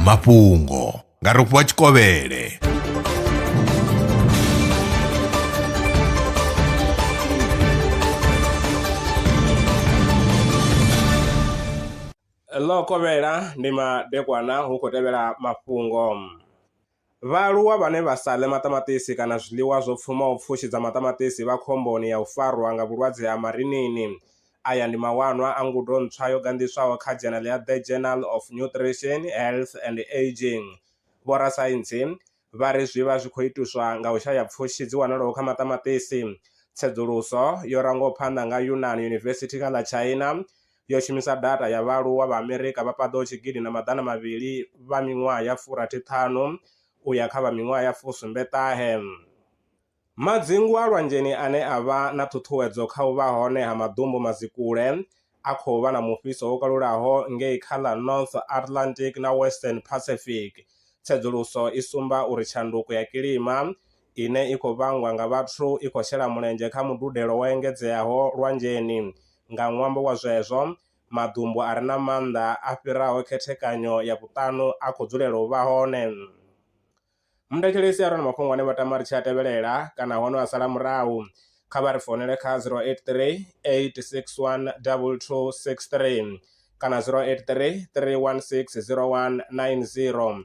mafhungo nga rofhiwa tshikovhele ḽo kovhela ndi madekwana hu khou tevhela mafhungo Vhaaluwa vhane vha sa ḽe maṱamaṱisi kana zwiḽiwa zwo pfumaho pfushi dza maṱamaṱisi vha khomboni ya u farwa nga vhulwadze ha marinini. Aya ndi mawanwa a ngudo ntswa yo ganḓiswaho kha dzhenele ya The Journal of Nutrition, Health and Ageing. Vhorasaintsi vha ri zwi vha zwi khou ituswa nga u shaya pfushi dzi wanalaho kha maṱamaṱisi. Tsedzuluso yo rangwaho phanḓa nga Yunnan University kha ḽa China, yo shumisa data ya vhaaluwa vha Amerika vha paḓaho tshigidi na maḓana mavhili vha miṅwaha ya furathi ṱhanu u ya kha vha miṅwaha ya fusumbe ṱahe. Madzingu a lwanzheni ane a vha na ṱhuṱhuwedzo kha u vha hone ha maḓumbu mazikule a khou vha na mufhiso wo kalulaho ngei kha ḽa North Atlantic na Western Pacific. Tsedzuluso i sumba uri tshanduko ya kilima ine i khou vhangwa nga vhathu i khou shela mulenzhe kha mududelo wo engedzeaho lwanzheni. Nga ṅwambo wa zwezwo, maḓumbu a re na maanḓa a fhiraho khethekanyo ya vhuṱanu a khou dzulela u vha hone. Muthetshelesi a re na mafhungo ane vha tama ri tshi a tevhelela kana hono a sala murahu, kha vha ri founele kha 083 861 2263 kana 083 316 0190.